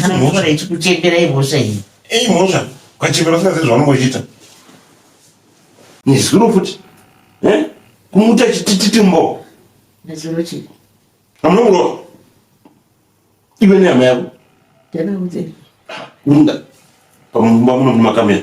kana mvura ichikuchembera imhosva iyi ei mhosva ukachembera usingazivi zvaunongochiita nezuro futi eh? kumuta chitititi mbo nezuro chii amunongurova iwe nehama yako ndakaudzei unda pamumba muno mumakamera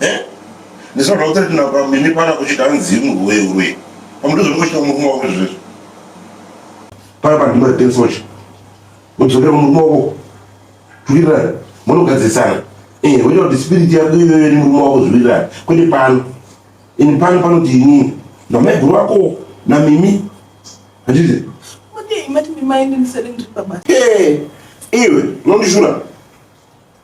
eh ndisina kuti kuti na kwa mimi pana kuchita nzimu wewe wewe pamutuzo ndikuchita murume wako zvezvo paya pa ndima dance watch udzokera murume wako tuwirirana munogadzisana eh wewe kuti spirit yako iyoyo ni murume wako zviwirirana kwete pano ini pano pano kuti inini na maiguru wako na mimi hazvizi Hey, iwe unondishura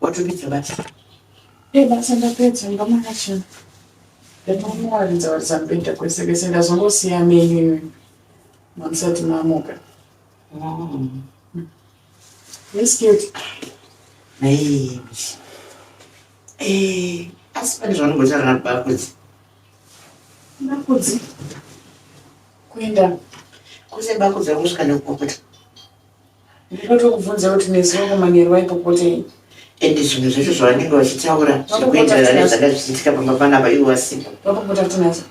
Watopedza basa? Ee, basa ndapedza, ndomara chena. Ndatomuwaridza waridza mubhedha kwese kwese, ndazongosiya menyu imi mamusati mamuka. Mm. Yes, cute. Hey. Hey. Asi pane zvaunongotaura na Bakudzi? Bakudzi? Kuenda kuse Bakudzi akusvika nekupopota. Ndinotokubvunza kuti nezuva kumanheru vaipopotei? Ende zvinhu zvacho zvavanenge vachitaura zvekuenderana nezvanga zvichiitika pamba panapa ivo vasipo. Vapopota kuti nazo.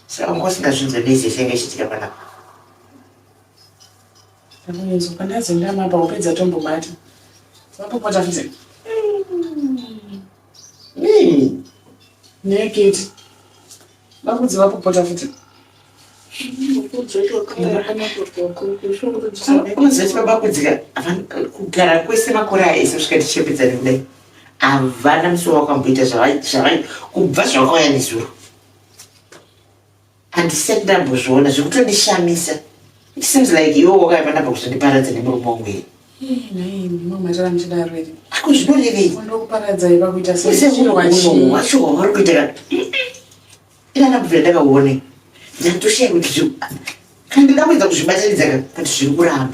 Saka wanga usingazvinzwe nezve zvainge zvichiitika panapa. Ndakunzwa pandazi ndamapa upedza tombobata. Vapopota kuti. Rini? Neketi. Vakudzi vakupota futi. Unoziva vakudzika kugara kwese makore aya ese kusvika tichembedzani kudai havana musoro wakamboita zvavai kubva zvavakauya nezuro Handisati ndambozviona zvikutondishamisa. It seems like iwe wakaiva ndamba kuzondiparadza nemurume wangu here? Ako zvinorevei? Wacho wauri kuita kana ina ndambovira ndakaone ndatoshaya kuti zviri kana ndinamboedza kuzvibatanidza ka kuti zviri kuramba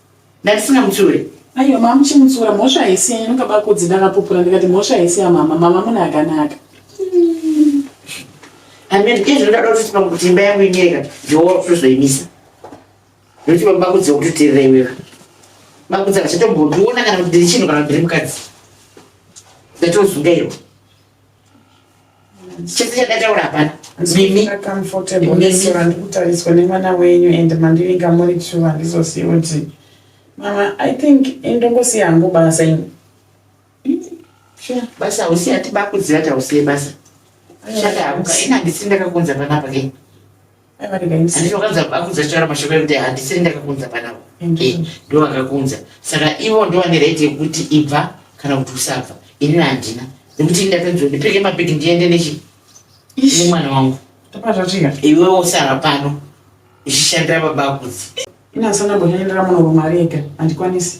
Ndatisingamutsiure. Aiwa mama muchimutsiura mhosva haisi yenyu ndokaba kudzi ndakapupura ndikati mhosva haisi yamama mama mune akanaka. And then izvi ndada kuti pamwe kuti imba yangu inyereka ndiwo kuzoimisa. Ndoti baba bakudzi kuti tirira iwewe. Bakudzi akachatombo ndiona kana kuti ndiri chinhu kana kuti ndiri mukadzi. Ndatozungairwa. chese chandataura hapana mimi ndikutariswa nemwana wenyu and mandivinga muri two handizosiye kuti mama i think indongosiya hangu basa ini basa hausi ati bakuziva tausiye basa shata hakuka ini handisiri ndakakunza panapa kei handiti vakanza vakunza taura mashoko ekuti handisiri ndakakunza panavo eh, ndo vakakunza saka ivo ndo vane right yekuti ibva kana kuti usabva inini handina nekuti ndakanzi ndipfeke mabhegi ndiende nechi nemwana wangu iwe wosara pano ichishandira baba kudzi inasana mbonyaendera munorumarega handikwanisi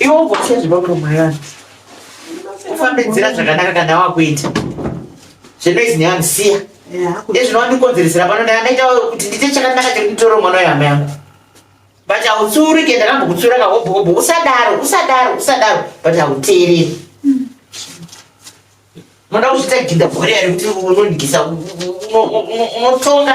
iwe ugosiya zvepamuromwa yevanhu ufambe nzira zvakanaka kana wakuita zvenoizi nevanhu siya ezvinovandikonzeresera pano ndaita kuti ndiite chakanaka chekutoro mwana wehama yangu but hautsuri ke ndakambokutsura kahobho hobho usadaro usadaro usadaro but hauteereri moda kuzviita ginda bhori yari kuti unondigisa unotonga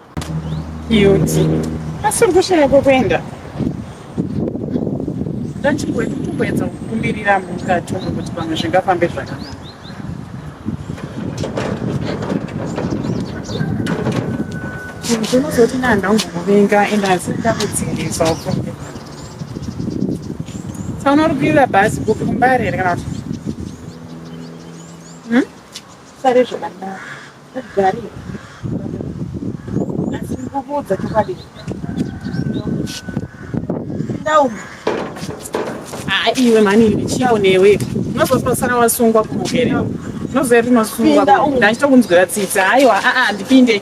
Cute. Asi uri kushaya kwekuenda. Ndachimboenda kutomboedza kukumbirira mukati umu kuti pamwe zvingafambe zvakanaka. Ndinozoti nanda ungomuvinga ende asi ndakudzingiswa ufunge. Tsaona uri kuenda bhazi kukumbare here kana kuti? Hmm? Sare zvakanaka. Ugari. Asi ndikukuudza chokwadi. Ndauma. Ah, iwe mani iwe chiyawo newe. Unozosara wasungwa kumugere. Unozoya tinosungwa. Ndachitokunzwira tsitsi. Haiwa, a a ndipinde.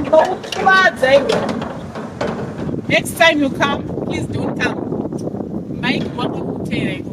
Ndokukuvadza iwe. Next time you come, please don't come. Mike wakakutera iwe.